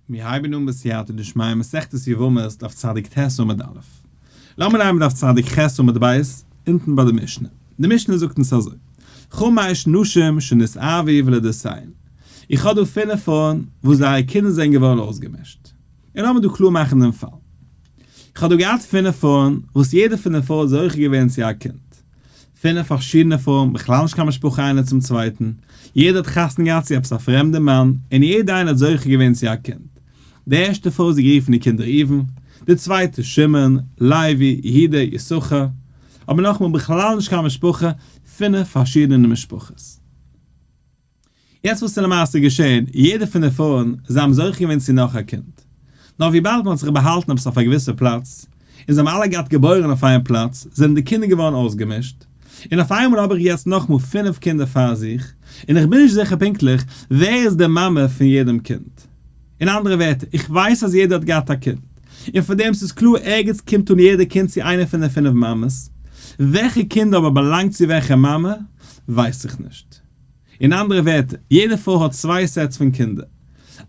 מיר הייבן אן בסייעתא דשמיא מסכת יבמות דף צדיק ט עמוד א'. לאמיר לייענען דף צדיק ח עמוד ב' אונטן ביי די משנה. די משנה זאגט אונז אזוי, חמש נשים שנות אבי ולידותיהן, איך האב דא פינף פרויען וואס זייערע קינדער זענען געווארן אויסגעמישט. און לאמיר דא קלאר מאכן דעם פאל. איך האב דא געהאט פינף פרויען וואס יעדע פון די פרויען איז זוכה געווען צו א קינד. פינף פארשידענע פרויען בכלל נישט קיין משפחה איינע צום צווייטן, יעדע האט חתונה געהאט צו עפעס א פרעמדע מאן, און יעדע איינע האט זוכה געווען צו א קינד, די ערשטע פרוי האט זי גערופן די קינדער ראובן, די צווייטע שמעון, לוי, יהודה, יששכר, אבער נאכאמאל בכלל נישט קיין משפחה, פינף פארשידענע משפחות. יעצט וואס איז למעשה געשען, יעדע פון די פארן זיי האבן זוכה געווען צו נאך א קינד, נאר וויבאלד מען האט זיך באהאלטן עפעס אויף א געוויסע פלאץ, און זיי האבן אלע געהאט געבוירן אויף איין פלאץ, זענען די קינדער געווארן אויסגעמישט, און אויף איינמאל האב איך יעצט נאכאמאל פינף קינדער פאר זיך, און איך בין נישט זיכער פונקטליך ווער איז די מאמע פון יעדעם קינד. אין אנדערע ווערטער, איך ווייס אז יעדער האט געהאט א קינד, און פון דעם ס'איז קלאר ערגעץ קומט אן יעדע קינד צו איינע פון די פינף מאמעס, וועלכע קינד אבער באלאנגט צו וועלכע מאמע ווייס איך נישט. אין אנדערע ווערטער, יעדע פרוי האט צוויי סעטס פון קינדער.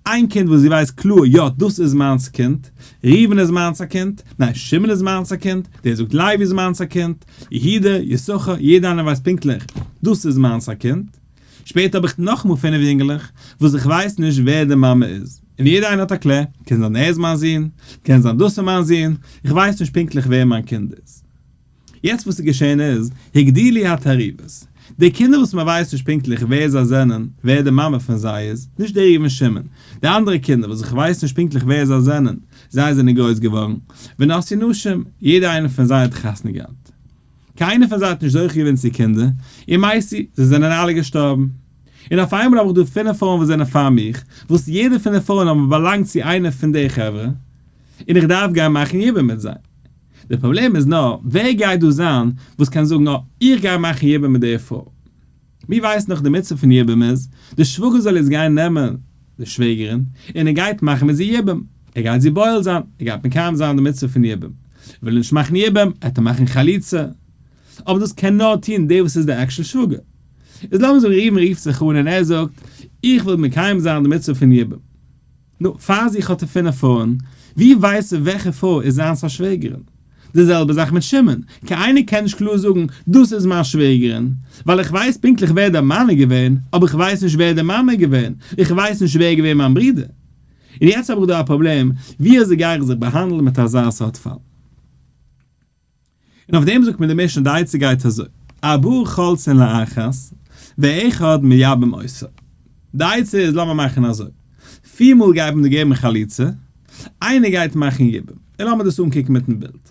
איין קינד וואס זי ווייסט קלאר, יא, דאס איז מיינס א קינד, ראובן איז מיינס א קינד, ניין, שמעון איז מיינס א קינד, דער זאגט לייבי איז מיינס א קינד, יהודה, יששכר, יעדע איינער ווייסט פונקטליך, דאס איז מיינס א קינד. שפעטער האב איך נאכאמאל פינף יונגעלעך, וואס איך ווייס נישט ווער די מאמע איז, און יעדע איינער האט א קלער, קען זיין ער איז מיין זון, קען זיין דאס איז מיין זון, איך ווייס נישט פונקטליך ווער מיין קינד איז. יעצט וואס איז געשען איז, הגדילי התערובות, די קינדער וואס מען ווייסט נישט פונקטליך ווער זיי זענען, ווער די מאמע פון זיי איז, נישט דער ראובן שמעון, די אנדערע קינדער וואס איך ווייס נישט פונקטליך ווער זיי זענען, זיי זענען גרויס געווארן, ונשאו נשים, יעדע איינע פון זיי האט חתונה געהאט. קיינער פון זיי האט נישט זוכה געווען צו קינדער, און מאי סי, זיי זענען אלע געשטארבן. און אויף איינמאל האב איך דא פינף פרויען וואס זענען פאר מיך, וואס יעדע פון די פרויען האבן באלאנגט צו איינע פון די חברה, און איך דארף גיין מאכן יבום מיט זיי. די פראבלעם איז נאר ווער גייט דא זיין וואס קען זאגן אה איך גיי מאכן יבום מיט דער פרוי. מיר ווייסן דאך די מצוה פון יבום איז, די שוואגער זאל יעצט גיין נעמען די שוועגערין און ער גייט מאכן מיט זי יבום, ער גייט זי בועל זיין, ער גייט מקיים זיין די מצוה פון יבום. וויל ער נישט מאכן יבום, עטער מאכן חליצה. אבער דאס קען נאר טון דער וואס איז דער עקשן שוואגער. איז לאמיר זאגן ראובן רופט זיך אן און ער זאגט איך וויל מקיים זיין די מצוה פון יבום. נו, פאר זיך האט ער פינף פרויען, ווי ווייסט ער וועלכע פרוי איז זיינס א שוועגערין? די זעלבע זאך מיט שמעון, קיינער קען נישט קלאר זאגן, דאס איז מיין שוועגערין, ווייל איך ווייס פונקטליך ווער דער מאן איז געווען, אבער איך ווייס נישט ווער דער מאמע איז געווען, איך ווייס נישט ווער איז געווען מיין ברודער. און יעצט האב איך דא א פראבלעם, ווי אזוי גיי איך זיך באהאנדלן מיט אזא סארט פאל? און אויף דעם זאגט מיר די משנה די עצה גייט אזוי, ארבעה חלצין לאחת ואחד מייבם עושה, די עצה איז לאמיר מאכן אזוי, פיר מאל גייט מען דא געבן חליצה, איינער גייט מאכן יבום, און לאמיר דאס אנקוקן מיטן בילד,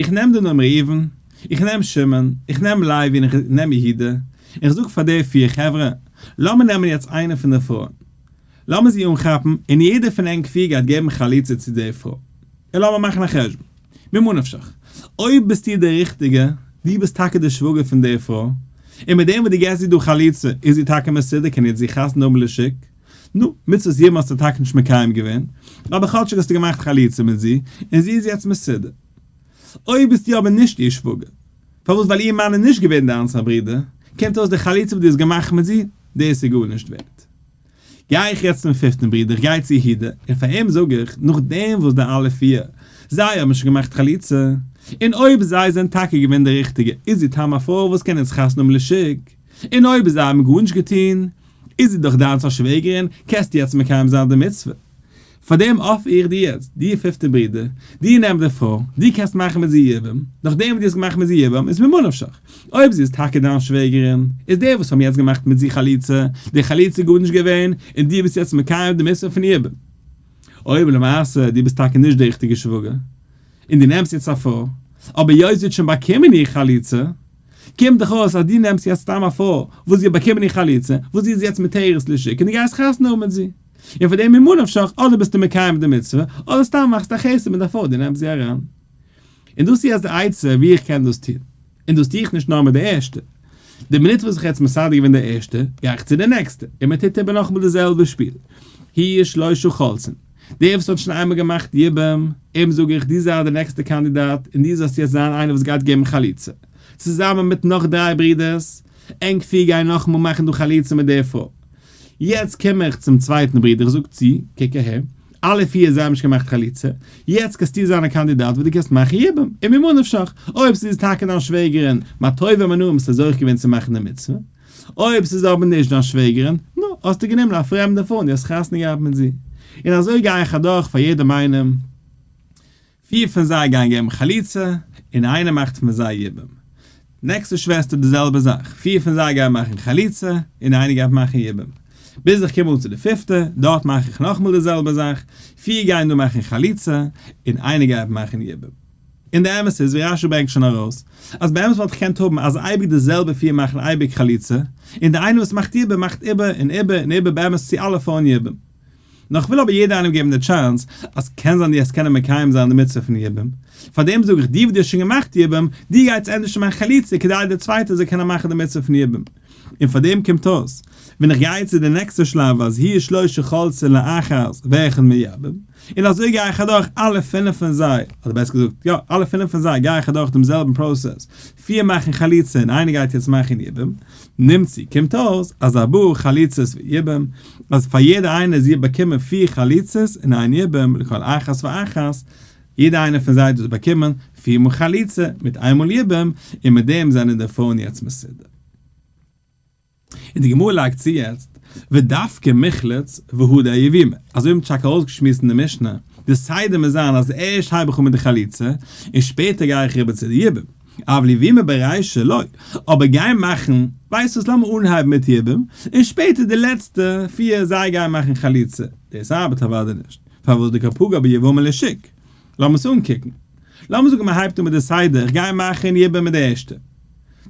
איך נעם דא נאר ראובן, איך נעם שמעון, איך נעם לוי און איך נעם יהודה, און איך זאג פאר די פיר חברה, לאמיר נעמען יעצט איינע פון די פרויען, לאמיר זי אנכאפן, און יעדער פון ענק פיר גייט געבן חליצה צו די פרוי, און לאמיר מאכן א חשבון. ממה נפשך, אויב ביסטו די ריכטיגע, דו ביסט טאקע די שוואגער פון דער פרוי, און מיט דעם וואס דו געסט איר דא חליצה איז זי טאקע מסודר, קען איצט זי חתונה האבן לשיק, נו, מצוות יבם האסטו טאקע נישט מקיים געווען, אבער כאטשיג האסטו געמאכט חליצה מיט זי, און זי איז יעצט מסודר. אויב ביסטו אבער נישט איר שוואגער, פארוואס? ווייל איר מאן איז נישט געווען דיינס א ברודער, קומט אויס די חליצה וואס דו האסט געמאכט מיט זי, דאס איז גארנישט ווערט. גיי איך יעצט צום פיפטן ברודער, איך גיי צו יהודה, און פאר אים זאג איך, נאכדעם וואס די אלע פיר, זיי האבן שוין געמאכט חליצה, און אויב זיי זענען טאקע געווען די ריכטיגע, איז זי תם א פרוי וואס קען אונז חתונה האבן לשיג, און אויב זיי האבן גארנישט געטון, איז זי דאך דיינס א שוועגערין, קענסטו יעצט מקיים זיין די מצוה. פאר דעם אפער איך דיר יעצט, דיר פיפטער ברודער, דיר נעם די פרוי, דו קענסט מאכן מיט זי יבום, נאך דעם וואס דו האסט געמאכט מיט זי יבום איז ממה נפשך, אויב זי איז טאקע דיין שוועגערין, איז די וואס האבן יעצט געמאכט מיט זי חליצה, די חליצה גארנישט געווען, און דו ביסט יעצט מקיים די מצוה פון יבום. אויב למעשה דו ביסט טאקע נישט די ריכטיגע שוואגער, און דו נעמסט יעצט א פרוי, אבער היות זי האט שוין באקומען איר חליצה, קומט דאך אויס אז דו נעמסט יעצט סתם א פרוי וואס זי האט באקומען איר חליצה, וואס זי איז יעצט מתירת לשוק, און דו גייסט חתונה האבן מיט זי. און פאר דעם ממה נפשך אדער ביסטו מקיים די מצוה אדער סתם מאכסטו א חסד מיט א פרוי די נעמסט זי אריין און דאס איז יעצט די עצה ווי איך קען דאס טון און דאס טו איך נישט נאר מיט די ערשטע די מינוט וואס איך האב יעצט מסדר געווען די ערשטע גיי איך צו די נעקסטע און מען טוט איבער נאכאמאל די זעלבע שפיל היו שלשה חולצין דער וואס האט שוין איינמאל געמאכט יבום אים זאג איך דו זייט די נעקסטע קאנדידאט און דו זאלסט יעצט זיין איינער וואס גייט געבן חליצה צוזאמען מיט נאך דריי ברודערס ענק פיר גייען נאכאמאל מאכן דא חליצה מיט דער פרוי. יעצט קום איך צום צווייטן ברודער זאג צו, קע קע ה, א' איהר זיי האבן נישט געמאכט חליצה, יעצט קענסטו זיין א קאנדידאט וואס דו קענסט מאכן יבם, און ממה נפשך, אויב ס'איז טאקע דיין שוועגערין, מה טוב ומה נעים ביסטו זוכה געווען צו מאכן די מצוה, אויב ס'איז אבער נישט דיין שוועגערין, נו, האסטו גענומען א פרעמדע פאון, די האסט חתונה געהאט מיט זי. און אזוי גיי איך אדורך פאר יעדעם איינעם. פיר פון זיי גייען געבן חליצה, און איינער מאכט פון זיי יבום. די נעקסטע שוועסטער די זעלבע זאך, פיר פון זיי גייען מאכן חליצה, און איינער גייט מאכן יבום. ביז איך קום אן צו די פיפטע, דארט מאך איך נאכאמאל די זעלבע זאך, פיר גייען דא מאכן חליצה, און איינער גייט מאכן יבום. און די אמת איז, ווי רש י ברענגט שוין ארויס, אז באמת וואלט איך געקענט האבן אז אייביג די זעלבע פיר מאכן אייביג חליצה, און די איינער וואס מאכט יבום מאכט איבער און איבער און איבער באמת צו אלע פארן יבום. נאר כ'וויל אבער יעדער איינעם געבן די טשאנס אז קען זיין די האסט קענען מקיים זיין די מצוה פון יבום, פארדעם זאג איך די וואס די האסט שוין געמאכט יבום, די גיי צו ענדערש צו מיין חליצה כדי די צווייטע זאל קענען מאכן די מצוה פון יבום. און פארדעם קומט אויס ווען איך גיי צו די נעקסטע שלב אז הי' שלא שחלצה לאחז ואחד מיבום, און אזוי גיי איך אדורך אלע פינף פון זיי, אדער בעסער געזאגט יא אלע פינף פון זיי גיי איך אדורך דעם זעלבן פראסעס פיר מאכן חליצה און איינער גייט יעצט מאכן יבום, נמצי קומט אויס אז א בור חליצות ויבום, אז פאר יעדע איינער זיע באקומען פיר חליצות און איין יבום לכל אחת ואחת, יעדע איינע פון זיי דאס באקומען פיר מאל חליצה מיט איין מאל יבום, און מיט דעם זענען די פרויען יעצט מסודר. און די גמרא לייגט צו יעצט, ודווקא מחלץ והודאה יבימה, אזוי האבן טשאק ארויסגעשמועסט אין די משנה, די סדר מוז זיין אז ערשט הייב איך אן מיט די חליצה, און שפעטער גיי איך אריבער צו די יבום, אבל יבימה ברישא לא, אבער גיין מאכן, ווייסט וואס לאמיר אנהייבן מיט יבום, און שפעטער די לעצטע פיר זיי גייען מאכן חליצה, דאס ארבעט אוודאי נישט, פארוואס די קאפוגא ביבמה לשיק, לאמיר עס אנקוקן. לאמיר זאגן מען הייבט אן מיט די סדר, איך גיי מאכן יבם מיט די ערשטע.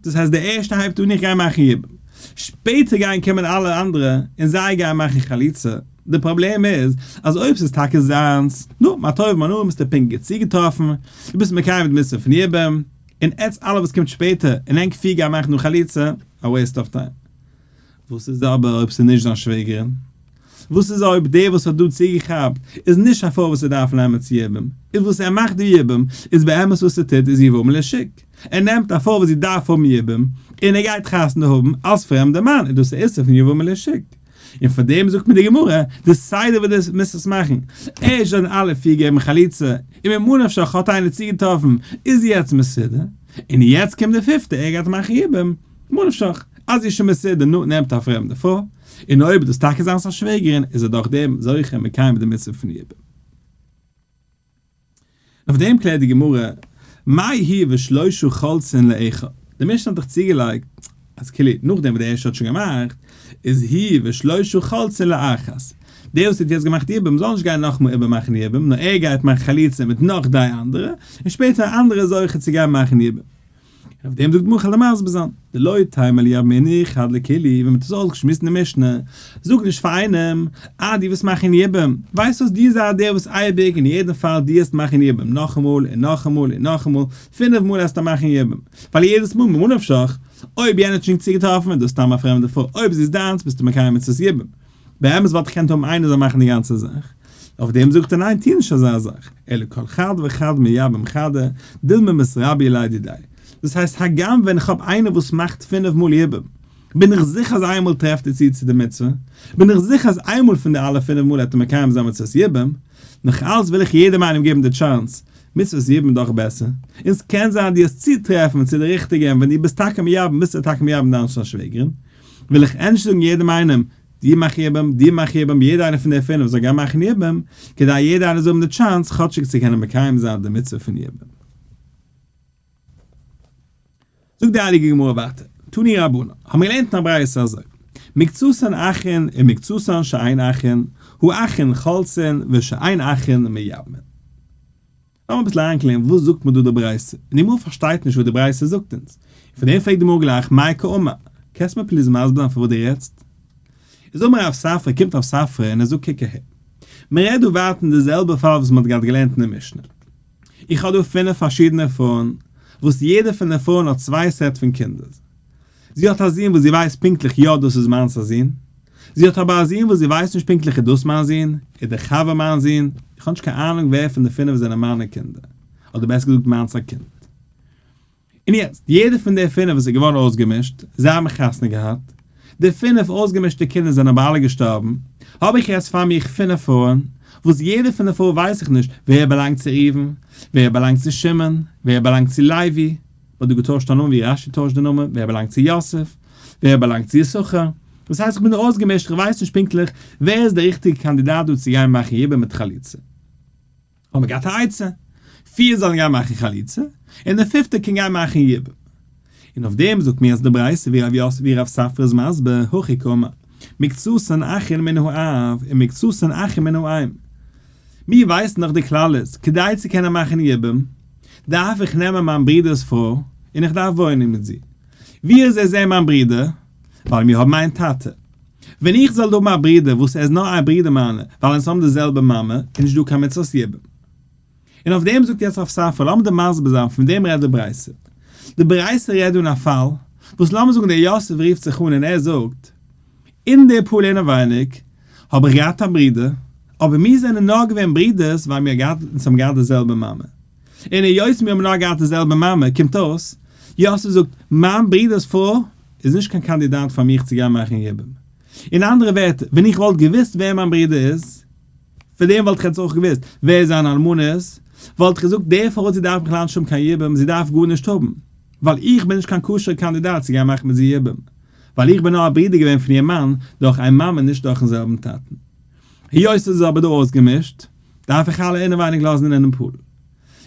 דאס הייסט די ערשטע הייבט אן איך גיי מאכן יבם. שפעטער גייען קומען אלע אנדערע און זיי גייען מאכן חליצה. די פראבלעם איז אז אויב ס'איז טאקע זיינס, נו, מה טוב ומה נעים, ביסטו פונקט גוט צוגעטראפן, דו ביסט מקיים די מצוה פון יבם, און עטס אלע וואס קומט שפעטער און ענק פיר גייען מאכן דא חליצה, א וועיסט אוו טיים. וואס איז אבער אויב ס'איז נישט זיין שוועגערין? וואס איז אויב דער וואס האט דא צוגעכאפט איז נישט א פרוי וואס ער דארף נעמען צו יבום? איז וואס ער מאכט דא יבום איז באמת וואס ער טוט איז יבום לשיק, ער נעמט א פרוי וואס זי דארף האבן יבום און ער גייט חתונה האבן אלס פרעמדע מאן איז דאס א איסור פון יבום לשיק, און פאר דעם זאגט מיר די גמרא די סדר ווי די מיזט עס מאכן, ערשט זענען אלע פיר געבן חליצה און ממה נפשך האט איינער צוגעטראפן איז יעצט מסודר, און יעצט קומט די פיפטע ער גייט מאכן יבום. ממה נפשך, אז זי איז שוין מסודר, נו, נעמט א פרעמדע פרוי, און אויב איז דאס טאקע זיינס א שוועגערין, איז ער דאך דעם זוכה און מקיים די מצוה פון יבום. אויף דעם קלערט די גמרא, מאי הי' ושלושה חולצין לאיכא, די משנה האט דאך צוגעלייגט אז כאילו נאכדעם וואס דער ערשטער האט שוין געמאכט, איז הי' ושלושה חולצין לאחת. דער וואס האט יעצט געמאכט יבום זאל נישט גיין נאכאמאל איבערמאכן יבום, נאר ער גייט מאכן חליצה מיט נאך דריי אנדערע, און שפעטער א אנדערער איז זוכה צו גיין מאכן יבום. אויף דעם זאגט מח א למז בזן דלא תימא ליה מיני חד לקילי ווען מ'האט עס אויסגעשמועסט אין די משנה, זאג נישט פאר איינעם, אה, דו וועסט מאכן יבום, ווייסט וואס, דו זיי דער וואס אייביג און יעדן פאל דו האסט מאכן יבום, נאכאמאל און נאכאמאל און נאכאמאל, פינף מאל האסטו מאכן יבום, ווייל יעדעס מאל ממה נפשך, אויב יענער האט שוין צוגעטראפן און דו האסט סתם א פרעמדע פרוי, אויב זי איז דיינס ביסטו מקיים מצות יבום. באמת וואלט איך געקענט האבן איינער זאל מאכן די גאנצע זאך, אויף דעם זאגט ער ניין טוה נישט אזא זאך, אלא כל חד וחד מיבם חדא דילמא מסרביה ליידי דיי, דאס הייסט הגם ווען איך האב איינער וואס מאכט פינף מאל יבום, בין איך זיכער אז איינמאל טרעפט ער צו צו די מצוה, בין איך זיכער אז איינמאל פון די אלע פינף מאל וועט ער מקיים זיין מצוות יבום, נאך אלץ וויל איך יעדעם איינעם געבן די טשאנס, מצוות יבום איז דאך בעסער, און ס'קען זיין דו האסט צוטרעפן צו די ריכטיגע און ווען דו ביסט טאקע מייבם ביסטו טאקע מייבם דיין שוועגערין. וויל איך ענדערש זאגן יעדעם איינעם, דיר מאך איך איבער, דיר מאך איך איבער, יעדע איינע פון די פינף זאל גיין מאכן איבער, כדי יעדע איינער זאל האבן די טשאנס כאטשיג צו קענען מקיים זיין די מצוה פון איבער. זאגט די הייליגע גמרא ווייטער, תני רבנן, האבן מיר געלערנט אין א ברייתא אזוי, מקצתן אכין ומקצתן שאין אכין, הוא אכין חלצין ושאין אכין מייבמין. לאמיר אביסל אריינקלערן וואס זאגט מיר דא די ברייתא, און אמאל פארשטייט נישט וואס די ברייתא זאגט אונז, און פון דעם פרעגט די מרא גלייך מאי קאמר, קענסט מיר פליז מסביר זיין פון וואס דו רעדסט? איז אמר רב ספרא, קומט רב ספרא און ער זאגט קוק אהער, מען רעדט דא ווייטער אין די זעלבע פאל וואס מען האט געהאט געלערנט אין די משנה, איך האב דא פינף פארשידענע פרויען וואס יעדע פון די פרויען האט צוויי סעט פון קינדער, זי האט א זון וואס זי ווייסט פונקטליך יא דאס איז מיינס א זון, זי האט אבער א זון וואס זי ווייסט נישט פונקטליך איז דאס מיין זון, איז דער חבר מיין זון, איך האב נישט קיין אהנונג ווער פון די פינף זענען מיינע קינדער, אדער בעסער געזאגט מיינס א קינד. און יעצט, יעדער פון די פינף וואס איז געווארן אויסגעמישט, זיי האבן חתונה געהאט, די פינף אויסגעמישטע קינדער זענען אבער אלע געשטארבן, האב איך יעצט פאר מיר פינף פרויען, וואס יעדע פון די פרויען ווייס איך נישט ווער באלאנגט צו ראובן, ווער באלאנגט צו שמעון, ווער באלאנגט צו לוי, האט דא געטוישט א נאמען ווי רשי טוישט די נאמען, ווער באלאנגט צו יוסף, ווער באלאנגט צו יששכר, דאס הייסט איך בין דא אויסגעמישט איך ווייס נישט פונקטליך ווער איז דער ריכטיגע קאנדידאט דא צו גיין מאכן ייבום מיט חליצה. האב מיר געהאט א עצה, פיר זאלן גיין מאכן חליצה, און דער פיפטער קען גיין מאכן ייבום. און אויף דעם זאגט מיר אז די ברייתא ווי רב יוסף ווי רב ספרא איז מסביר, הכי קמא. מקצת אין אחין מן האב און מקצת אין אחין מן האם. מיר ווייסן דאך די כללות, כדי צו קענען מאכן יבום, דארף איך נעמען מיין ברודער'ס פרוי, און איך דארף וואוינען מיט זי. ווי איז ער זי מיין ברודער? ווייל מיר האבן איין טאטע. ווען איך זאל האבן א ברודער וואס ער איז נאר א ברודער מיינע, ווייל אונז האבן די זעלבע מאמע, איז נישט דא קיין מצות יבום. און אויף דעם זאגט יעצט רב ספרא, לאמיר דיר מסביר זיין, פון וועם רעדט די ברייתא. די ברייתא רעדט דא אין א פאל, וואס לאמיר זאגן דער יוסף רופט זיך אן און ער זאגט, אין די פאר אינעווייניג האב איך געהאט א ברודער, אבער מיר זענען נאר געווען ברודערס ווייל מיר געהאט, אונז האבן געהאט די זעלבע מאמע. און היות מיר האבן נאר געהאט די זעלבע מאמע, קומט אויס, יוסף זאגט, מיין ברודערס פרוי איז נישט קיין קאנדידאט פאר מיך צו גיין מאכן יבום. אין אנדערע ווערטער, ווען איך וואלט געוואוסט ווער מיין ברודער איז, פון דעם וואלט איך יעצט אויך געוואוסט ווער זיינע אלמנות, וואלט איך געזאגט די פרוי זי דארף בכלל נישט האבן קיין יבום, זי דארף גארנישט האבן, ווייל איך בין נישט קיין כשר'ע קאנדידאט צו גיין מאכן מיט זי יבום, ווייל איך בין נאר א ברודער געווען פון איר מאן דורך איין מאמע נישט דורכ'ן זעלבן טאטן. היות עס איז אבער דא אויסגעמישט, דארף איך אלע אינעווייניג לאזן אינעם פול,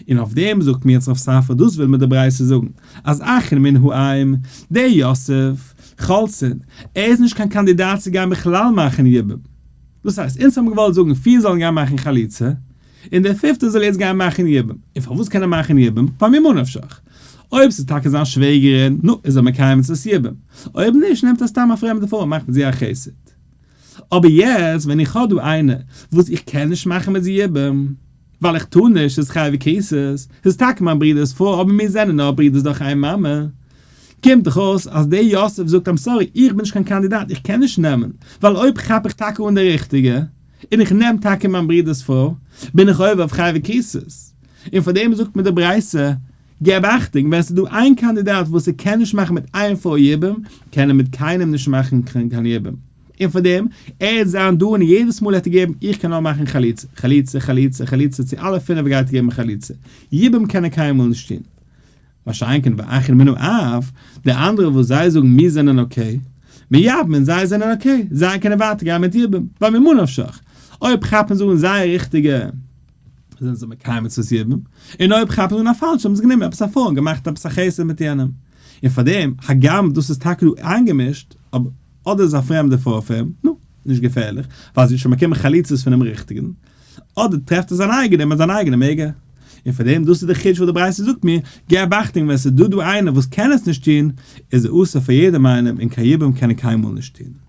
און אויף דעם זאגט מיר יצחק ספר דאס וויל מיר די ברייתא זאגן אז אחר מן העם דער יוסף חלצין ער איז נישט קיין קאנדידאט צו גיין בכלל מאכן יבום דאס הייסט אונז האבן געוואלט זאגן פיר זאלן גיין מאכן חליצה און דער פיפטער זאל יעצט גיין מאכן יבום און פארוואס קען ער מאכן יבום פאר ממה נפשך אויב ס'איז טאקע זיין שוועגערין נו איז ער מקיים מצוות יבום אויב נישט נעמט ער סתם א פרעמדע פרוי און מאכט מיט זי א חסד אבער יעצט ווען איך האב דא איינער וואס איך קען נישט מאכן מיט זיבן ווייל איך טאר נישט איז חייב וכיסס איז טאקע מיין ברודער'ס פרוי אבער מיר זענען נאר ברודער'ס דורך איין מאמע קומט דאך אויס אז דער יוסף זאגט איים סארי איך בין נישט קיין קאנדידאט איך קען נישט נעמען ווייל אויב כאפ איך טאקע אן די ריכטיגע און איך נעם טאקע מיין ברודער'ס פרוי בין איך עובר אויף חייב וכיסס און פארדעם זאגט מיר די ברייתא געב אכטונג, ווען ס'איז דא איין קאנדידאט וואס ער קען נישט מאכן מיט איין פאר יעבעם, קען ער מיט קיינעם נישט מאכן קיין קיין יעבעם. און פאר דעם, ער העט זיין דא און יעדעס מאל העט ער געבן איך קען נאר מאכן חליצה, חליצה, חליצה, חליצה, צו אלע פינעף גייט ער געבן חליצה. יעבעם קען ער קיינמאל נישט טון. מה שאין כן ואכן מינו אאוו, די אנדערע וואס זיי זאגן מיר זענען אקעי, מיר יאבן און זיי זענען אקעי, זיי קענען ווייטער גיין מיט יעבעם, ווייל ממה נפשך, אויב כאפן זיי אן זייער ריכטיגע. זענען זיי מקיים מצוות יבום, און אויב כאפן אן א פאלשע האבן זיי גענומען עפעס א פאון און געמאכט עפעס א חסד מיט יענעם, און פארדעם, הגם דאס איז טאקע דא איינגעמישט, אבער אדער איז עס א פרעמדע פארפעם, נו, נישט געפערליך, ווייל עס איז שוין באקומען חליצות פונעם ריכטיגן, אדער טרעפט ער זיין אייגענעם און זיין אייגענעם עגא. און פארדעם, דאס איז דער חידוש וואס די ברייתא זאגט מיר, געב אכטונג ווען עס איז דא דא איינער וואס קען עס נישט טון, איז ער אסור פאר יעדעם איינעם און קיין יבום קען ער קיינמאל נישט טון.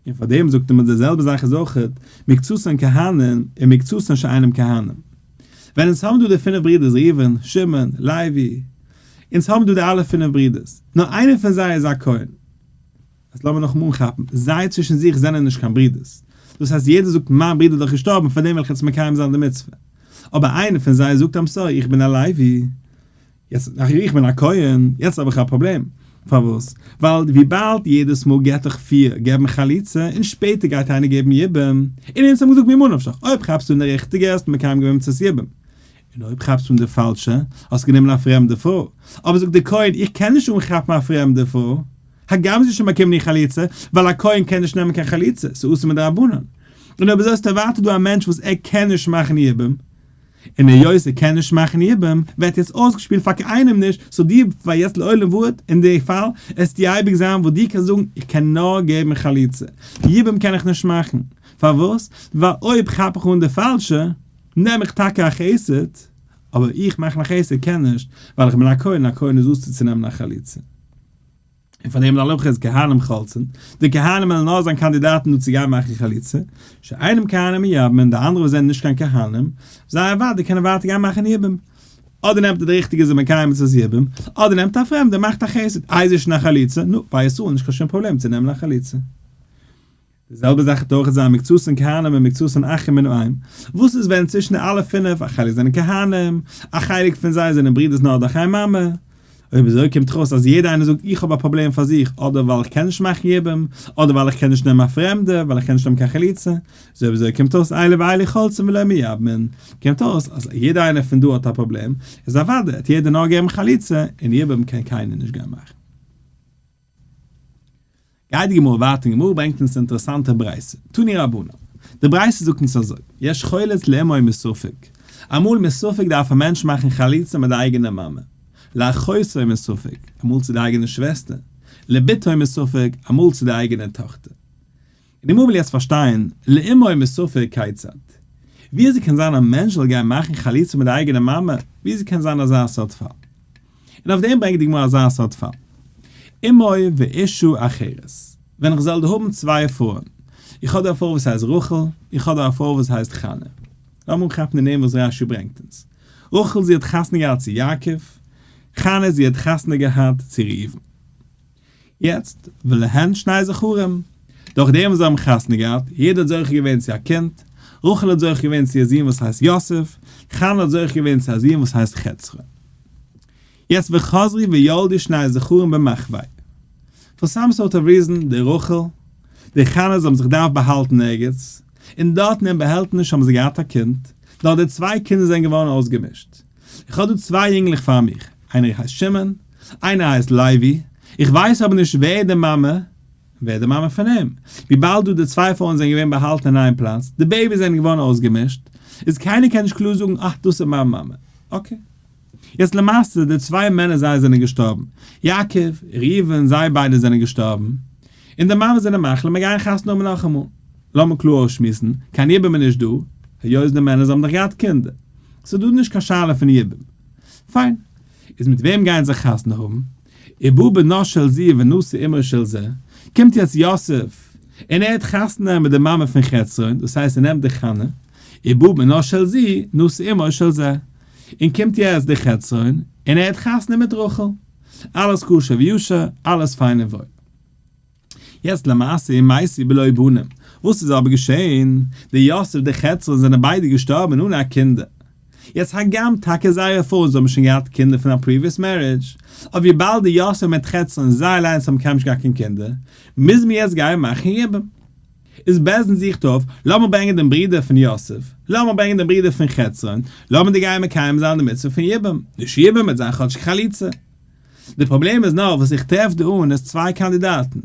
און פאר דעם זאגט מען די זעלבע זאך איז אויך מקצתן כהנם און מקצתן שאינם כהנם. ווען אונז האבן דא די פינף ברידערס ראובן, שמעון, לוי, אונז האבן דא די אלע פינף ברידערס, נאר איינער פון זיי איז א כהן. אז לאמיר נאכאמאל אנכאפן, זיי צווישן זיך זענען נישט קיין ברידערס, דאס הייסט יעדער זאגט מיין ברידער איז דאך געשטארבן פאר דעם וועל איך יעצט מקיים זיין די מצוה, אבער איינער פון זיי זאגט איימסארי איך בין א לוי, יעצט דאכט איך בין א כהן, יעצט האב איך א פראבלעם, פארוואס? ווייל וויבאלד יעדעס מאל געט דאך פיר געבן חליצה און שפעטער גייט איינער געבן יבום, און אונז האבן געזאגט ממה נפשך, אויב כאפסטו אן די ריכטיגע האסט מקיים געווען מצות יבום, און אויב כאפסטו אן די פאלשע האסט גענומען א פרעמדע פרוי, אבער זאגט דער כהן איך קען נישט אנכאפן א פרעמדע פרוי, הגם זי איז שוין באקומען איר חליצה, ווייל א כהן קען נישט נעמען קיין חליצה, ס'איז אסור מדרבנן, און אויב איז עס טאבאטע דא א מענטש וואס ער קען נישט מאכן יבום, און היות זי קען נישט מאכן איבעם ווערט יעצט אויסגעשפילט פאר קיינעם נישט סאו די פאר יעצט לעולם ועד אין די פאל עסט די אייביג זיין וואס די קענסט זאגן איך קען נאר געבן חליצה איבעם קען איך נישט מאכן פארוואס ווייל אויב כאפ איך אן די פאלשע נעם איך טאקע א חסד אבער איך מאכן א חסד קען נישט ווייל איך בין א כהן און א כהן איז אסור צו נעמען א חליצה. און פאר דעם לאלען חז כהנים חלצין, די כהנים וועלן נאר זיין קאנדידאטן דא צו גיין מאכן חליצה, שאינם כהנים יבם, און די אנדערע וואס זענען נישט קיין כהנים, זיי אוודאי קענען ווייטער גיין מאכן יבום. אדער נעמט איר די ריכטיגע זיי מקיים מצוות יבום, אדער נעמט א פרעמדער מאכט א חסד, אייזישן א חליצה, נו, ביי ישראל נישט קיין שום פראבלעם צו נעמען א חליצה. די זעלבע זאך איז אויך זיין מקצות אין כהנים און מקצות אין אחים מנועם, וואס איז ווען צווישן די אלע פינף א חלק זענען כהנים, א חלק פון זיי זענען ברידערס נאר דורך איין מאמע, אויב אזוי קומט ארויס אז יעדע איינער זאגט איך האב א פראבלעם פאר זיך אדער ווייל איך קען נישט מאכן יבום, אדער ווייל איך קען נישט נעמען א פרעמדע, ווייל איך קען נישט נעמען קיין חליצה, איז אויב אזוי קומט ארויס אלי ואלי חולצים ולא מי יבמין, קומט ארויס אז יעדע איינער פון דא האט א פראבלעם, איז אוודאי האט יעדער נאר געבן חליצה און יבום קען קיינער נישט גיין מאכן. גייט די גמרא ווייטער און די גמרא ברענגט אונז א אינטערעסאנטע ברייתא, תני רבנן, די ברייתא זאגט אונז אזוי, יש חולת לאמו מספק, אמאל מספק דארף א מענטש מאכן חליצה מיט די אייגענע מאמע, לאחותו מספק, אמאל צו די אייגענע שוועסטער, לביתו מספק, אמאל צו די אייגענע טאכטער. די מומע'ל יעצט פארשטיין, לאמור מסופר כיצד. וויאזוי קען זיין א מענטש זאל גיין מאכן חליצה מיט די אייגענע מאמע, וויאזוי קען זיין אזא סארט פאל. און אויף דעם ברענגט די גמרא אזא סארט פאל. אמוי ואישו אחרת. ווען איך זאל דא האבן צוויי פרויען. איך האב דא א פרוי וואס הייסט רחל, איך האב דא א פרוי וואס הייסט חנה. לאמיר אנכאפן די נעמען וואס רש י ברענגט אונז. רחל זי האט חתונה געהאט צו יעקב, חנה זי האט חתונה געהאט צו ראובן. יעצט ולהן שני זכרים, דורך דעם וואס זיי האבן חתונה געהאט, יעדער האט זוכה געווען צו א קינד, רחל האט זוכה געווען צו א זון וואס הייסט יוסף, חנה האט זוכה געווען צו א זון וואס הייסט חצרון. יעצט וחזרי וילדי שני זכרים במחווה, פאר סאם סארט אוו ריזען, די רחל, די חנה זיי האבן זיך געדארפט באהאלטן ערגעץ, און דארטן אין באהעלטעניש האבן זיי געהאט א קינד, נאר די צוויי קינדער זענען געווארן אויסגעמישט, איך האב דא צוויי יונגלעך פאר מיך, איינער הייסט שמעון, איינער הייסט לייבי, איך ווייס אבער נישט ווער איז די מאמע און ווער איז די מאמע פון אים, וויבאלד דא די צוויי פרויען זענען געווען באהאלטן אין איין פלאץ, די בעיביס זענען געווארן אויסגעמישט, איז קיינער קען נישט קלאר זאגן אה דאס איז מיין מאמע, אקעי. יעצט למעשה די צוויי מענער זיי זענען געשטארבן, יעקב, ראובן, זיי ביידע זענען געשטארבן, און די מאמעס זענען מחליט מיר גייען חתונה האבן נאכאמאל. לאמיר קלאר אויסשמועסן, קיין יבום איז נישט דא, היות די מענערס האבן דאך געהאט קינדער. ס'איז דא נישט קיין שאלה פון יבום. פיין. איז מיט וועם גייען זיי חתונה האבן? איבא בנו של זי ונשא אמו של זה. קומט יעצט יוסף און ער האט חתונה מיט די מאמע פון חצרון, דאס הייסט ער נעמט די חנה, איבא בנו של זי, נשא אמו של זה. און קומט יעצט די חצרון און ער האט חתונה מיט רחל. אלעס כשר ויושר, אלעס פיין און וואויל. יעצט למעשה מעשי בלא בנים, וואס איז אבער געשעהן? די יוסף די חצרון זענען ביידע געשטארבען אן א קינדער, יעצט הגם טאקע זייערע פרויען זאלען שוין געהאט קינדער פון א פריוויעס מערידזש, אבער וויבאלד די יוסף מיט חצרון זיי אליינס האבן קיינמאל נישט געהאט קיין קינדער, מוז מען יעצט גיין מאכן יבום. איז בעז ן זוכט אויף, לאמיר ברענגען דעם ברודער פון יוסף, לאמיר ברענגען דעם ברודער פון חצרון, לאמיר די גייען מקיים זיין די מצוה פון יבום, נישט יבום, ער האט זיין כאטשיג חליצה. די פראבלעם איז נאר וואס איך טרעף דא אן איז צוויי קאנדידאטן,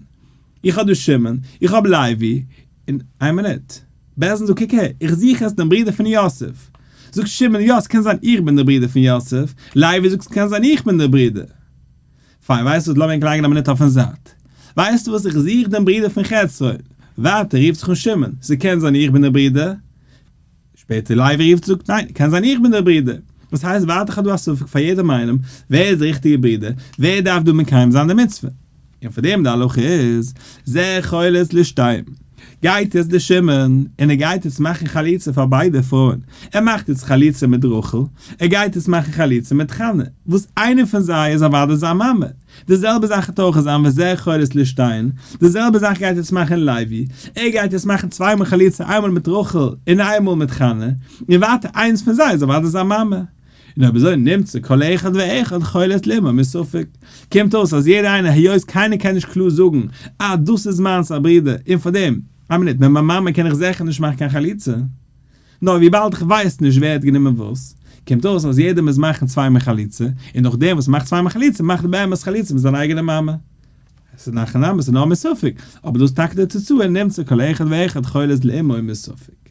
איך האב דא שמעון, איך האב לייבי, און איין מינוט, בערזען זאגט קוק הער, איך זוך יעצט דעם ברודער פון יוסף, זאגט שמעון יא ס'קען זיין איך בין דער ברודער פון יוסף, לייבי זאגט ס'קען זיין איך בין דער ברודער, פיין ווייסט וואס לאמיר ענק לייגן א מינוט אויפן זייט, ווייסט וואס איך זוך דעם ברודער פון חצרון, ווייטער רופט זיך אן שמעון, ס'קען זיין איך בין דער ברודער, שפעטער לייבי רופט זאגט ניין קען זיין איך בין דער ברודער וואס הייסט ווארט איך האב דא א ספק פאר יעדעם איינעם ווער איז דער ריכטיגער ברודער ווער דארף דא מקיים זיין די מצוה און פאר דעם די הלכה איז זה חולת לשתיהן גייט יעצט דער שמעון און ער גייט יעצט מאכן חליצה פאר ביידע פרויען ער מאכט יעצט חליצה מיט רחל ער גייט יעצט מאכן חליצה מיט חנה וואס איינער פון זיי איז אוודאי זיין מאמע. די זעלבע זאך האט אויך זיין וזה חורס לשטיין, די זעלבע זאך גייט יעצט מאכן לייבי, ער גייט יעצט מאכן צוויי מאל חליצה איינמאל מיט רחל און איינמאל מיט חנה, און ווייטער איינס פון זיי איז אוודאי זיין מאמע, און אויב אזוי נמצא כל אחד ואחד חולת לימא מספק, קומט אויס אז יעדער איינער היות קיינער קען נישט קלאר זאגן אז דאס איז מיינס א ברודער און פארדעם, איין מינוט, מיט מיין מאמע קען איך זעכער נישט מאכן קיין חליצה, נאר וויבאלד איך ווייס נישט ווער האט גענומען וואס, קומט אויס אז יעדער מוז מאכן צוויי מאל חליצה, און אויך דער וואס מאכט צוויי מאל חליצה מאכט באמת חליצה מיט זיין אייגענע מאמע. עס איז נאכן נאמען ס'נאר מסופק, אבער דאס טאקע די תוצאה נמצא כל אחד ואחד חולז לעמו מסופק.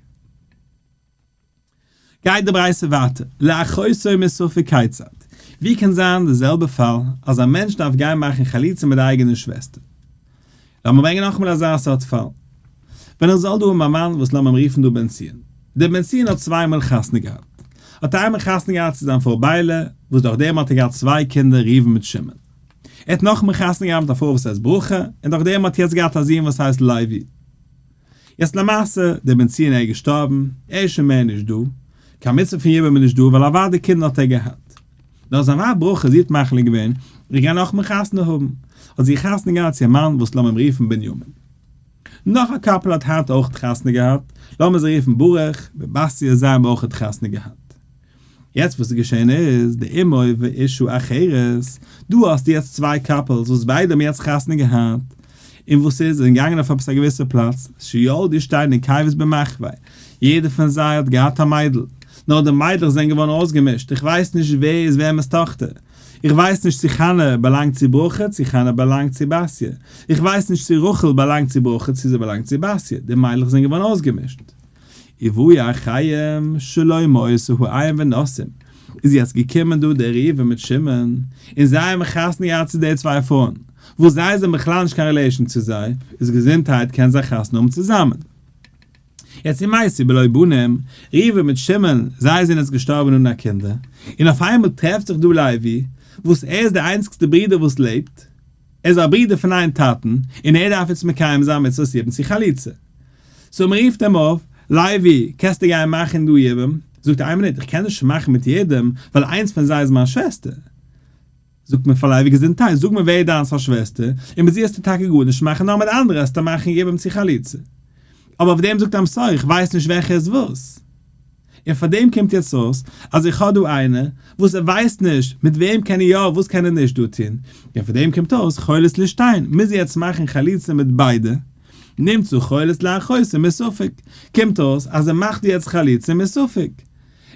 גייט די ברייתא ווייטער, לאחותו מסופק כיצד, ווי קען זיין די זעלבע פאל אז א מענטש דארף גיין מאכן חליצה מיט די אייגענע שוועסטער? לאמיר ברענגען נאכאמאל אזא סארט פאל. ווען איך זאל דא האבן א מאן וואס לאמיר אים רופן דא בן ציון. דער בן ציון האט צוויי מאל חתונה געהאט. האט איינמאל חתונה געהאט צו זיין פרוי ביילע, וואס דורך דעם האט ער געהאט צוויי קינדער ראובן מיט שמעון. ער האט נאכאמאל חתונה געהאט מיט א פרוי וואס הייסט ברכה, און דורך דעם האט יעצט געהאט א זון וואס הייסט לוי. יעצט למעשה, דער בן ציון איז געשטארבן, ער איז שוין מער נישט דא, קיין מצוה פון יבם איז נישט דא ווייל אוודאי די קינדער האט ער געהאט. נאר זיין ווייב ברכה, זי האט מחליט געווען, איך גיי נאכמאל חתונה האבן, האט זי חתונה געהאט צו א מאן וואס לאמיר אים רופן בנימין. נאך א קאפל האט היינט אויך חתונה געהאט, לאמיר זיי רופן ברוך, בעבאסיע זיי האבן אויך חתונה געהאט. יעצט וואס איז געשען איז, די אמוי ואישו אחרת, דא האסטו יעצט צוויי קאפעלס וואס ביידע האבן יעצט חתונה געהאט, און וואס איז, זיי זענען געגאנגען אויף עפעס א געוויסע פלאץ, שיולדי שטיין און קייוועס במחווה, יעדער פון זיי האט געהאט א מיידל, נאר די מיידלעך זענען געווארן אויסגעמישט, איך ווייס נישט ווער איז וועמענס טאכטער, איך ווייס נישט צו חנה באלאנגט צו ברכה צו חנה באלאנגט צו בתיה, איך ווייס נישט צו רחל באלאנגט צו ברכה צו זי באלאנגט צו בתיה, די מיידלעך זענען געווארן אויסגעמישט. עיבוי החיים שלא מעשהו עין ונסים, איז יעצט געקומען דא דער ראובן מיט שמעון, און זיי האבן חתונה געהאט צו די צוויי פרויען, וואס זיי זענען בכלל נישט קיין רילעישאן צו זיי, איז געזונטהייט קען זיי חתונה האבן צוזאמען. יעצט אין מעשה בלא בנים, ראובן מיט שמעון, זיי זענען יעצט געשטארבען אן א קינדער, און אויף איינמאל טרעפט זיך דא לוי, וואס ער איז דער איינציגסטער ברודער וואס לעבט, ער איז א ברודער פון איין טאטן און ער דארף איצט מקיים זיין מצוות יבום צו חליצה. סאו מען רופט אים אויף, לייבי, קענסטו גיין מאכן דא יבום? זאגט ער, איין מינוט, איך קען נישט מאכן מיט יעדעם, ווייל איינס פון זיי איז מיין שוועסטער. זאגט מען פאר לייבי, געזונטהייט, זאג מיר ווער איז דיינס א שוועסטער, און מיט זי האסטו טאקע גארנישט מאכן, נאר מיט אנדערע האסטו מאכן יבום צו חליצה. אבער אויף דעם זאגט עמ ס, איך ווייס נישט וועלכע איז וואס. און פאר דעם קומט יעצט אויס אז איך האב דא איינער וואס ער ווייסט נישט מיט וועם קען ער יא וואס קען ער נישט דא טון, און פאר דעם קומט אויס חולת לשטיין מוז יעצט מאכן חליצה מיט ביידע, נמצא חולת לאחויסה מספק, קומט אויס אז ער מאכט יעצט חליצה מספק,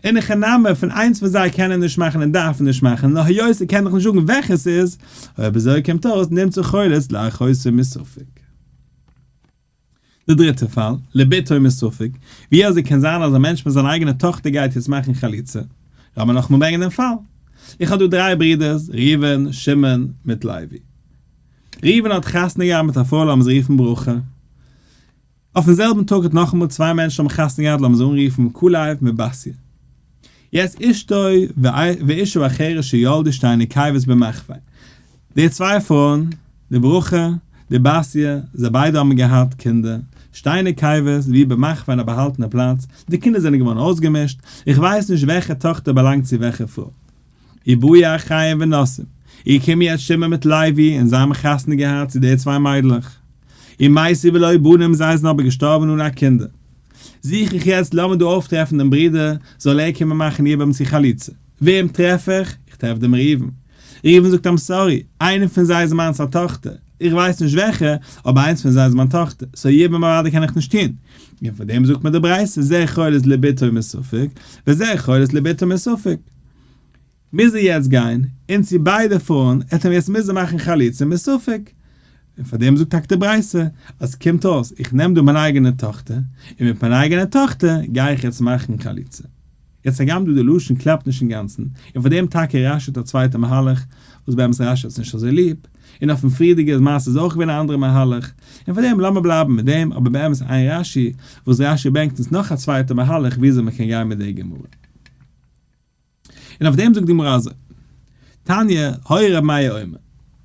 און הכא נמי פון איינס פון זיי קען ער נישט מאכן און דארף נישט מאכן נאר היות ער קען דאך נישט זאגן וועלכע ס'איז, אויב אזוי קומט אויס נמצא חולת לאחויסה מספק. די דריטע פאל, לביתו מספק, ווי אזוי קען זיין אז א מענטש מיט זיין אייגענע טאכטער גייט יעצט מאכן חליצה? לאמיר נאכאמאל ברענגען דעם פאל. איך האב דא דריי ברידערס, ראובן, שמעון, מיט לוי. ראובן האט חתונה געהאט מיט א פרוי לאמיר זי רופן ברכה. אויפן זעלבן טאג האט נאכאמאל צוויי מענטשן האבן חתונה געהאט לאמיר זיי אנרופן כלב מיט בתיה. יעצט אשתו ואישה אחרת שילדו שתי נקבות במחווה. די צוויי פרויען, די ברכה, די בתיה, זיי ביידע האבן געהאט קינדער, שטיינע קייווערס, ווי במחכ פאר אין א באהאלטענע פלאץ, די קינדער זענען געווארן אויסגעמישט, איך ווייס נישט וועלכע טאכטער באלאנגט צו וועלכע פרוי. איבאיא חיים ונסים, איר קומען שמעון מיט לייבי, און זיי האבן חתונה געהאט צו די צוויי מיידלעך. און מאיסי ולא בנים, זיי זענען אבער געשטארבן אן א קינדער. זוך איך יעצט לאמיר דא אויפטרעפן דעם ברודער, זאל ער קומען מאכן איבער צו חליצה. וועם טרעף איך? איך טרעף דעם ראובן. ראובן זאגט איים סארי, איינע פון זיי איז מיינס א טאכטער, איך ווייס נישט וועלכע, אבער איינס פון זיי איז מיין טאכטער, סאו יעבער מוראדיק קען איך נישט טון, און פאר דעם זאגט מיר די ברייתא זה חולת לביתו מספק, וזה חולת לביתו מספק, מוז ער יעצט גיין, און צו ביידע פארן, ער האט אים יעצט מוזן מאכן חליצה מספק, און פאר דעם זאגט טאקע די ברייתא, אז קומט אויס איך נעם דא מיין אייגענע טאכטער, און מיט מיין אייגענע טאכטער גיי איך יעצט מאכן חליצה. יעצט הגם דא די לשון קלאפט נישט אינגאנצן, און פאר דעם טאקע רש י האט א צווייטע מהלך, וואס באמת רש י האט עס נישט אזוי ליב, און אויפן פריערדיגע מעשה איז אויך געווען א אנדערע מהלך, און פאר דעם לאמיר בלייבן מיט דעם, אבער באמת איין רש י, וואס רש י ברענגט אונז נאך א צווייטע מהלך וויאזוי מען קען גיין מיט די גמרא. און אויף דעם זאגט די גמרא אזוי, תניא, הוי ר' מאיר אומר,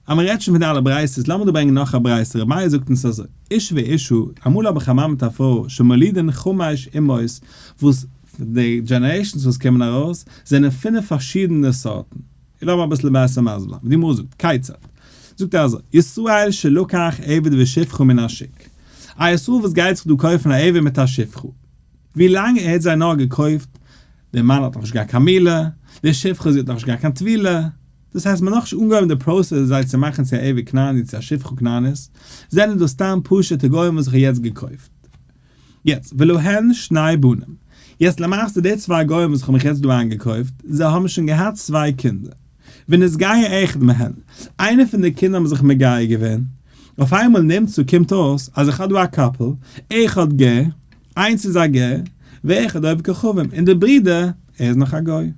אז מען רעדט שוין פון די אלע ברייתות, לאמיר דא ברענגען נאך א ברייתא, ר' מאיר זאגט אונז אזוי, איש ואשתו, אמאל האב איך א מאן מיט א פרוי, שמולידין חמש אמהות, וואס די דזשענערעישאנס וואס קומען ארויס, זענען פינף פארשידענע סארטן, לאמיר אביסל בעסער מסביר ווי די גמרא זאגט, כיצד? זאגט ער אזוי, ישראל שלקח עבד ושפחה מן השוק, א ישראל וואס גייט זיך דא קויפן א עבד מיט א שפחה, ווילאנג ער האט זיי נאר געקויפט, דער מאן האט נאכנישט געהאט קיין מילה, די שפחה זי האט נאכנישט געהאט קיין טבילה, דאס הייסט מ'האט נאכנישט אנגעהויבן די פראסעס זיי צו מאכן צו א עבד כנעני צו א שפחה כנענית, זענען דאס סתם פשוטע גוים וואס איך האב יעצט געקויפט. יעצט, ולהן שני בנים, יעצט למעשה די צוויי גוים וואס איך האב מיך יעצט דא איינגעקויפט, זיי האבן שוין געהאט צוויי קינדער, ונתגייר אחד מהן, איינער פון די קינדער האבן זיך מגייר געווען, אויף איינמאל נמצא קומט אויס אז איך האב דא א קאפל, אחד גר, איינס איז א גר, ואחד עובד כוכבים, און דער ברודער, ער איז נאך א גוי.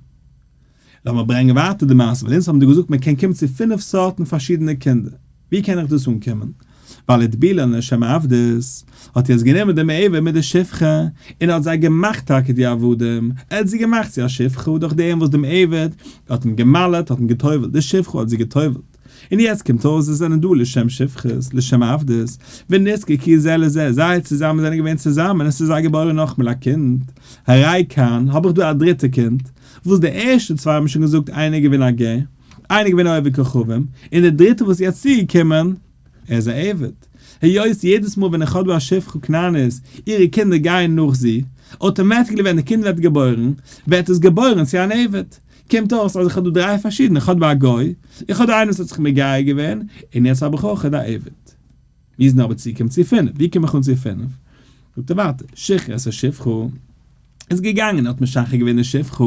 לאמיר ברענגען ווייטער די מעשה, ווייל אונז האבן דיר געזאגט מען קען קומען צו פֿינף סארטן פארשידענע קינדער, ווי קען איך דאס אנקומען? בעל איטבילין לשם עבדות האט יעצט גענומען דעם עבר מיט די שפחה און ער האט זיי געמאכט טאקע די עבדים, ער האט זי געמאכט צו א שפחה דורך דעם וואס דעם עבד האט אים גע'מל'עט, האט אים גע'טובל'ט, די שפחה האט זי גע'טובל'ט. און יעצט קומט אויס זיי זענען דא לשם שפחות, לשם עבדות, ונזקק היא זה לזה, זיי צוזאמען זענען געווען צוזאמען, עס איז זיי געבארען נאכמעל א קינד, הראי' כאן, האב איך דא א דריטע קינד, וואס די ערשטע צוויי האבן שוין געזאגט איינער איז געווען א גר, איינער איז געווען עובר כוכבים, און דער דריטער וואס איז יעצט צוגעקומען, ער איז א עבד. היות יעדעס מאל ווען איך האב דא א שפחה קנאנית, אירע קינדער גייען נאך זי, אוטומעטיקלי ווען די קינד ווערט געבוירן, ווערט עס געבוירן צו אן עבד. קומט אויס אז איך האב דא דריי פארשידענע, איך האב דא א גוי, איך האב דא איינער וואס האט זיך מגייר געווען, און יעצט האב איך אויך אט א עבד. מיר זענען אבער צוגעקומען צו פינף, ווי קום איך אן צו פינף? זאגט ער ווייטער, שכחה את השפחה, איז געגאנגען און האט משחרר געווען די שפחה,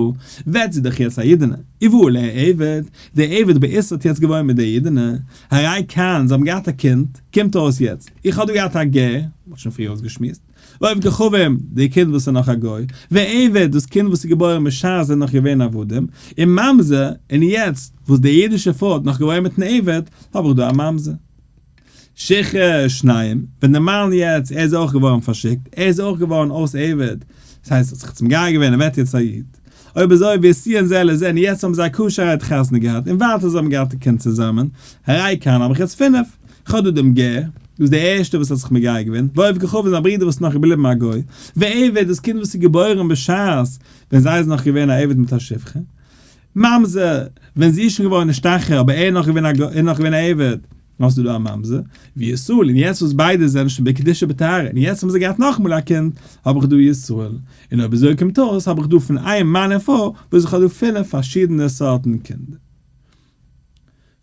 ווערט זי דאך יעצט א אידענע, יבוא עליה עבד, דער עבד בעיסה האט יעצט געוואוינט מיט דער אידענע, הרי כאן, זיי האבן געהאט א קינד, קומט אויס יעצט, איך האב דא געהאט א גר, מ'האט שוין פריער אויסגעשמועסט, לויב כוכבים, די קינד וואס איז נאך א גוי, ועבד, דאס קינד וואס איז געבוירן בשעת זיי נאך געווען עבדים, און ממזר, און יעצט וואס די אידישע פרוי האט נאך געוואוינט מיטן עבד, האב איך דא א ממזר. שיכור שניים, ווען די מאן יעצט, ער איז אויך געווארן פארשיקט, ער איז אויך געווארן אויס עבד, דאס הייסט ער האט זיך צום גיי געווען, ער ווערט יעצט א איד. אויב אזוי ווי עס ציען זעלער זען, און יעצט האבן זיי א כשר'ער עת חתונה געהאט, און ווייטער זיי האבן געהאט א קינד צוזאמען, הרי כאן האב איך יעצט פינף. חדא דמ ג, דו ביסט דער ערשטער וואס האט זיך מגייר געווען, ועוף גחו פון זיין ברודער וואס איז נאך געבליבן א גוי, ועבד, דאס קינד וואס איז געבוירן בשעת ווען זיי איז נאך געווען א עבד מיט א שפחה, ממזר, ווען זי איז שוין געווארן נישט טאכער אבער ער איז נאך געווען א גוי, ער איז נאך געווען א עבד, האסטו דא א ממזר, וישראל, און יעצט וואס ביידע זענען שוין בקדושה בטהרה, און יעצט האבן זיי געהאט נאכאמאל א קינד, האב איך דא ישראל, און אויב אזוי קומט אויס האב איך דא פון איין מאן און פרוי וואס איך האב דא פילע פארשידענע סארטן קינדער.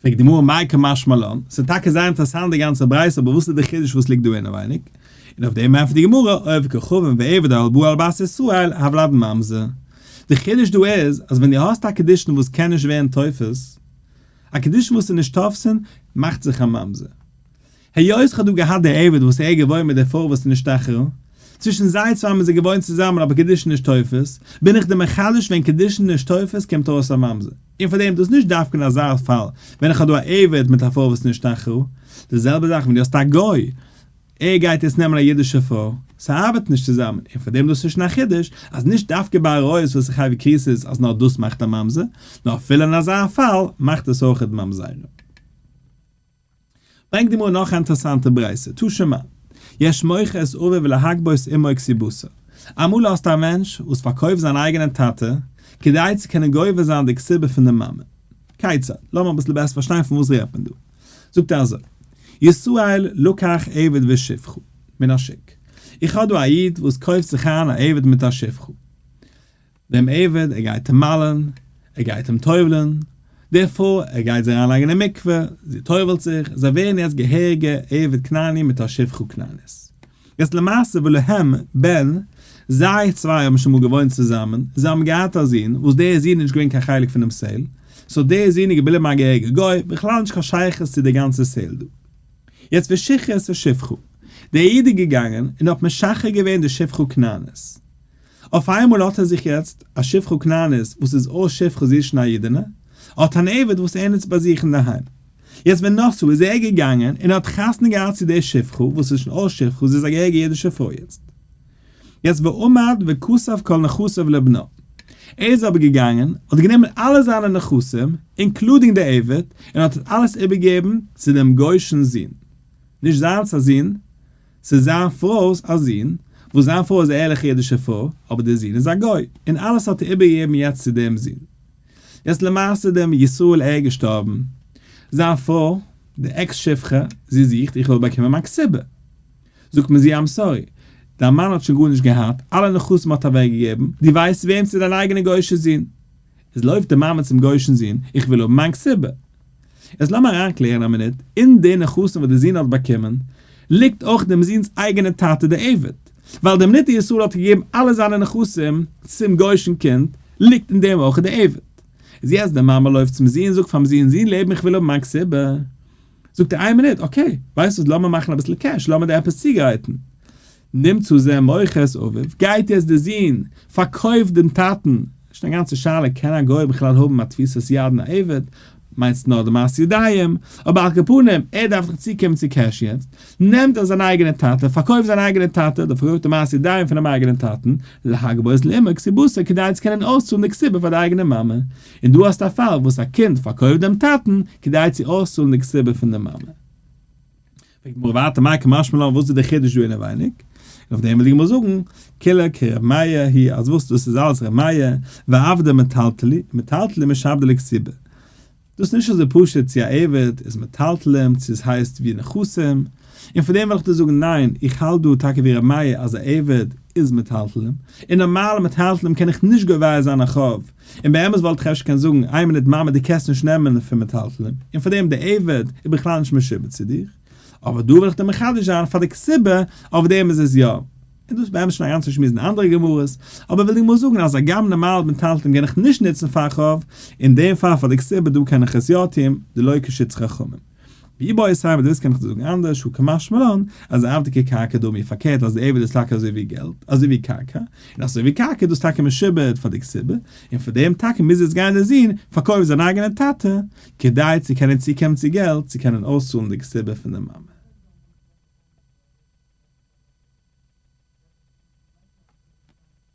פרעגט די גמרא מאי קמשמע לן, ס'איז טאקע זייער אינטערעסאנט די גאנצע ברייתא אבער וואס איז די חידוש וואס ליגט דא אינעווייניג? און אויף דעם ענטפערט די גמרא אוהב כוכבים ועבד אל בא אל בית ישראל הבלד ממזר, די חידוש דא איז אז ווען דו האסט א קדושין וואס קען נישט ווערן תופס, א קדושין וואס איז נישט תופסין, מאכט זיך א ממזר. היות כ'האב דא געהאט די עבד וואס ער איז געוואוין מיט די פרוי וואס איז נשתכחה, צווישן זיי צוויי האבן זיי געוואוינט צוזאמען אבער קידושין נישט תופס, בין איך דיר מחדש ווען קידושין נישט תופס קומט ארויס א ממזר, און פאר דעם דאס נישט דווקא אין אזא פאל ווען איך האב דא א עבד מיט א פרוי וואס איז נשתכחה, די זעלבע זאך ווען דו האסט א גוי ער גייט יעצט נעמען א אידישע פרוי, ס'ארבעט נישט צוזאמען, און פאר דעם דאס איז שוין א חידוש אז נישט דווקא ביי עריות וואס איז חייב כריסות אז נאר דאס מאכט א ממזר, נאר אפילו אין אזא פאל מאכט עס אויכעט ממזרים. ברענגט די גמרא נאך א אינטערעסאנטע ברייתא, תא ש מא, יש מוכר את אביו להגבות אמו כסיבותו, אמאל האסטו א מענטש וואס פארקויפט זיין אייגענעם טאטע כדי צו קענען גובה זיין די כסיבה פון די מאמע, כיצד? לאמיר אביסל בעסער פארשטיין פון וואס רעדט מען דא, זאגט ער אזוי, ישראל לקח עבד ושפחו מן השוק, איך האב דא א איד וואס קויפט זיך איין א עבד מיט א שפחה, דעם עבד, ער גייט אים מל'ען, ער גייט אים טובל'ען, די פרוי, ער גייט זי אריינלייגן אין מקווה, זי טובל'ט זיך, זיי ווערן יעצט געהעריגע עבד כנעני מיט א שפחה כנענית. יעצט למעשה ולהם בן, זיי צוויי האבן שוין מאל געוואוינט צוזאמען, זיי האבן געהאט א זון, וואס דער זון איז נישט געווען קיין חלק פונעם סעל, סאו דער זון איז געבליבן א געהעריגע גוי, בכלל נישט קיין שייכות צו די גאנצע סעל דא. יעצט ושיכרת ושפחה, דער איד איז געגאנגען און האט משחרר געווען די שפחה כנענית, אויף איינמאל האט ער זיך יעצט א שפחה כנענית וואס איז אויס שפחה זי איז שוין א אידענע, ער האט אן עבד וואס ער נוצט ביי זיך אינדערהיים. יעצט ווען נאכצו איז ער געגאנגען און האט חתונה געהאט צו די שפחה וואס איז שוין אויס שפחה זי איז א געהעריגע אידישע פרוי יעצט. יעצט ועמד וכסף כל נכסיו לבנו. ער איז אבער געגאנגען האט גענומען אלע זיינע נכסים אינקלודינג די עבד און האט עס אלעס איבערגעגעבן צו דעם גוי'שן זון. נישט זיינס א זון. ס'איז זיין פרוי'ס א זון, וואס זיין פרוי איז א ערליכע אידישע פרוי, אבער דער זון איז א גוי, און אלעס האט ער איבערגעגעבן יעצט צו דעם זון. יעצט למעשה איז דער ישראל ער געשטארבן, זיין פרוי, די עקס שפחה, זי זוכט איך זאל באקומען מיין קצבה. זאגט מען זי איים סארי, דיין מאן האט שוין גארנישט געהאט, אלע נכסים האט ער אוועקגעגעבן, דו ווייסט וועם צו דיין אייגענע גוי'שע זון. איז לויפט די מאמע צום גוי'שן זון, איך וויל האבן מיין קציבה. יעצט לאמיר אריינקלערן א מינוט, אין די נכסים וואס די זון האט באקומען, ליגט אויך דעם זונ'ס אייגענע טאטע די עבד, ווייל דער מניטה ישראל האט געגעבן אלע זיינע נכסים צום גוי'שן קינד, ליגט אין דעם אויך די עבד. איז יעצט די מאמע לויפט צום זון, זאגט פאר'ן זון, זון לעבן איך וויל האבן מיין קציבה. זאגט ער איין מינוט, אקעי, ווייסט וואס לאמיר מאכן אביסל קעש, לאמיר דיר עפעס צוגרייטן. נעם צו זיי מוחות אביו, גייט יעצט דער זון, פארקויפט דעם טאטן, שוין א גאנצע שאלה קען א גוי בכלל האבן א תפיסת יד אין א עבד, מיינסט נאר די מעשי ידיים, אבער על כפנים, ער דארף דאך צוקומען צו קעש יעצט, נעמט ער זיין אייגענע טאטע, פארקויפט זיין אייגענע טאטע, דער פארקויפט די מעשי ידיים פונעם אייגענעם טאטן, להגבות לאימא כסיבותא כדי צו קענען אויסצאלן די כסיבה פאר די אייגענע מאמע, און דא האסטו א פאל וואס א קינד פארקויפט דעם טאטן כדי צו אויסצאלן די כסיבה פון די מאמע. פרעגט די גמרא ווייטער מאי קמשמע לן וואס איז די חידוש דא אינעווייניג? און אויף דעם וויל די גמרא זאגן, כולא כר' מאיר הי' אז וואס דאס איז אלעס ר' מאיר, ועבדא מטלטלי, מטלטלי משעבדא לקציבא. דאס איז נישט אזוי פשוט צו א עבד איז מטלטלים צו עס הייסט ווי נכסים, און פון דעם וויל איך דיר זאגן ניין איך האלט דא טאקע ווי ר' מאיר אז א עבד איז מטלטלים, און נארמאלע מטלטלים קען איך נישט גובה זיין א חוב און באמת וואלט איך אפשר קענען זאגן איין מינוט מאמע דו קענסט נישט נעמען פון מטלטלין, און פאר דעם די עבד איז בכלל נישט משועבד צו דיר, אבער דא וויל איך דיר מחדש זיין פאר די כסבה אויף דעם איז עס יא, און דאס איז באמת שוין א גאנצע שמועס אין אנדערע גמרות, אבער וויל דיר גמור זאגן אז הגם נארמאל מטלטלין גיין איך נישט נוצן פאר חוב, אין דעם פאל פאר די כסבה דא קען איך עס יא טון, דלא כשיטת חכמים. ווי ביי סיי וואס דאס קען איך דיר זאגן אנדערש הוא כמשמע לן אז די ארטיגע קרקע דא מיר פארקערט אז די עבד איז טאקע אזוי ווי געלט אזוי ווי קרקע און אזוי ווי קרקע איז דאס טאקע משועבד פאר די כסבה און פאר דעם טאקע מוז יעצט גיין דער זון פארקויפט זיין אייגענע טאטע כדי צו קענען צוקומען צו געלט צו קענען אויסצאלן די כסבה פון די מאמע.